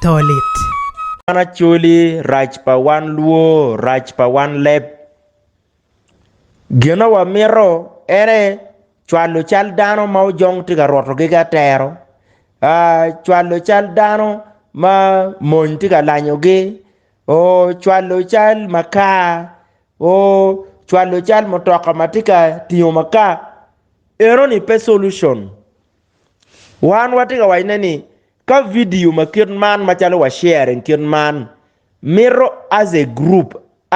to lit. Wan Acholi rac pa wan luo rac pa wan leb gin ma wa mito ene cwalo cal dano ma ojong tye ka rwoto gi ki atero cwalo cal dano ma mony tye ka lanyo gi oo cwalo cal makar oo cwalo cal mutoka ma tye ka tingo makar eno ni pe solution. Wan watye ka wacone ni ka video ma kit man macalo wa sharing kit man mito as a group,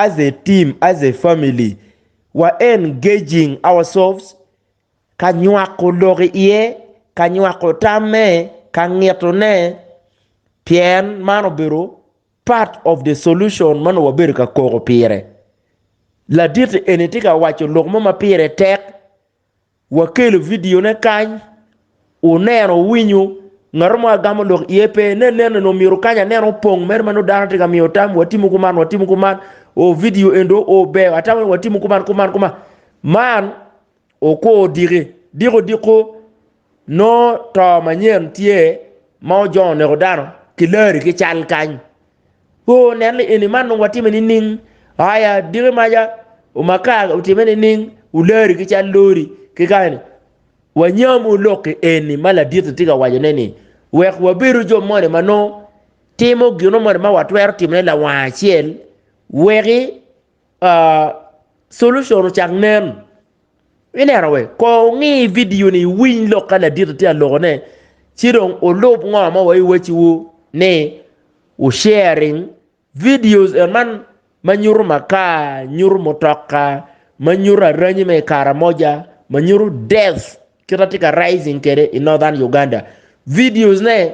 as a team, as a family wa engaging ourselves ka nywako lok iye, ka nywako tamme, ka ngitone pien man obedo part of the solution ma nongo wabedo ka koko pire. Laditi eni tye ka waco lok mo ma pire tek. Wakelo video ne kany wuneno wuwinyo ngato mo agamo dok iye pe ne nene ni omyero kany aneno opong mere manongo dano tye ka miyo tam watimo kuman watimo kuman o video endo o ber atamo ni watimo kuman kuman kuman man okwo odiki diko diko Nongo to manyen tye ma ojongo neko dano ki lari ki cal kany. Ooh nen ni eni man dong watime nining? Aya diki maca umaka otime nining? Ulari ki cal lori ki kany ni wanyam wu lok ki eni ma ladit-ti tye ka wacone ni wek wabedo jo moni ma nongo timo gino moni ma watwero timone lawang acel weki solution ocak nen. Ineno we kor wungi video ni iwiny lok ka ladit tye ka loko ne ci dong ulub ngo ma wa iwaci wu ni wu sharing videos and man ma nyuto makar, nyuto mutoka, ma nyuto aranyi me kara moja, ma nyuto death kita tye ka rising kede i northern Uganda. Videos ne.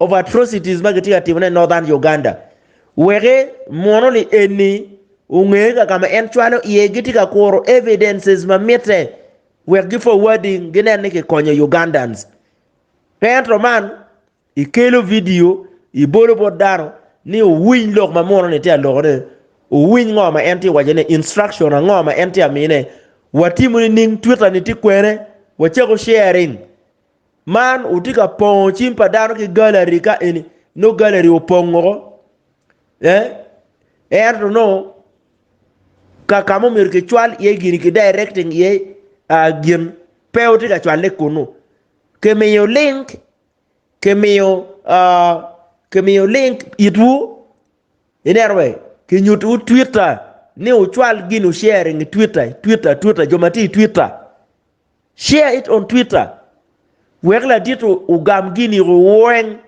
of atrocities ma gitye ka timone i Northern Uganda weke mwono ni eni onge ka ka ma en cwalo iye gitye ka kuro evidences ma mitte wek gi forwarding ginen ni kikonyo Ugandans. Ka ento man ikelo video ibolo bot dano ni owiny lok ma mwono ni tye alokone, owiny ngo ma en tye ka wacone, instruction ango ma en tye ka mine, watimo nining, Twitter ni tye kwene, wacako sharing. Man wutye ka pongo cim pa dano ki gallery ka eni nongo gallery opong woko ento nongo ka ma myero kicwal iye gin ki directing iye gin pe wutye ka cwalle kunu kimiyo link kimiyo link itwu ineno be kinyutiwu Twitter ni wucwal gin wucering i Twitter Twitter Twitter jo ma tye i Twitter. Share it on Twitter wek ladit ogam gini weng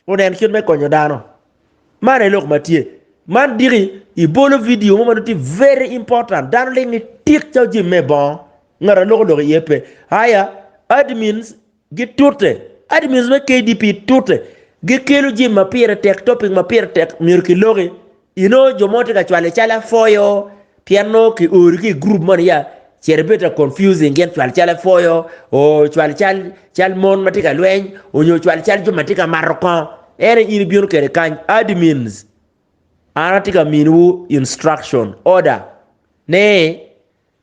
onen kit me konyo dano. Man aye lok ma tye. Man diki ibolo video mo ma nongo tye very important dano ling ni tik calo jim me bongo ngat aloko lok iye pe. Aya admins Gitute, admins me KDP tute, gikelo jami ma pire tek, topic ma pire tek myero kiloki, inongo jo mo tye ka cwale calo afoyo, pien nongo ki ori ki i group moni ya, cito ibedo ka confusing gin cwal calo afoyo, oo cwal cal cal mon ma tye ka lweny, onyo cwal cal jo ma tye ka mato kongo, ene in ibino kede kany, admins an atye ka miniwu instruction, order, ni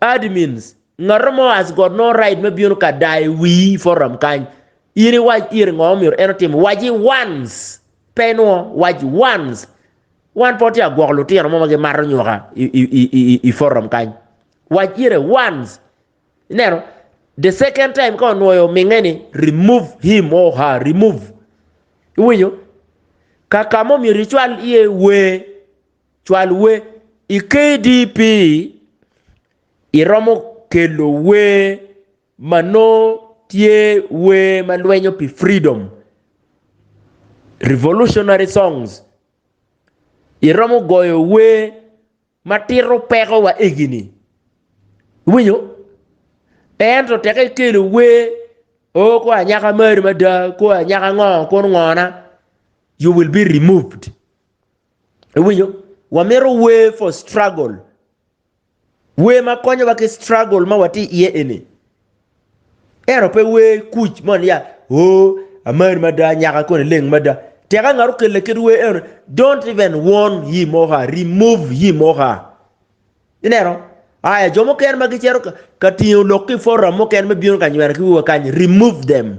Admins, Ngato mo has got no right me bino ka dayo wii i forum kany. In i wac ire ngo omyero en otim. Waci once, pe inwo, wac once. Wan pe watye ka gwoko lutino mo ma gi mato nyoka i, i, i, i, i forum kany. Wac ire once. Ineno? The second time ka onwoyo ominge ni, remove him or her, remove. Iwinyo? Kaka mo myero icwal iye wee. Cwal wer i KDP iromo kelo wer ma nongo tye wer ma lwenyo pi freedom, revolutionary songs. Iromo goyo wer ma tito peko wa egini. Iwinyo? Ento teke ikelo wer oh kor anyaka mari mada, kor anyaka ngo kor ngona you will be removed. Iwinyo? Wamito way for struggle. Way ma konyo wa ki struggle ma wati iye eni. Ero pe way kuc mo niya, oh, amari mada, nyaka kone leng mada. Teka ngaro kelle kit way eno, don't even warn him or her, remove him or her. Ineno? Aya, jo mokene ma gicero ka tingo lok ki forum mokene me bino ka nywena ki wiwa kany, remove them.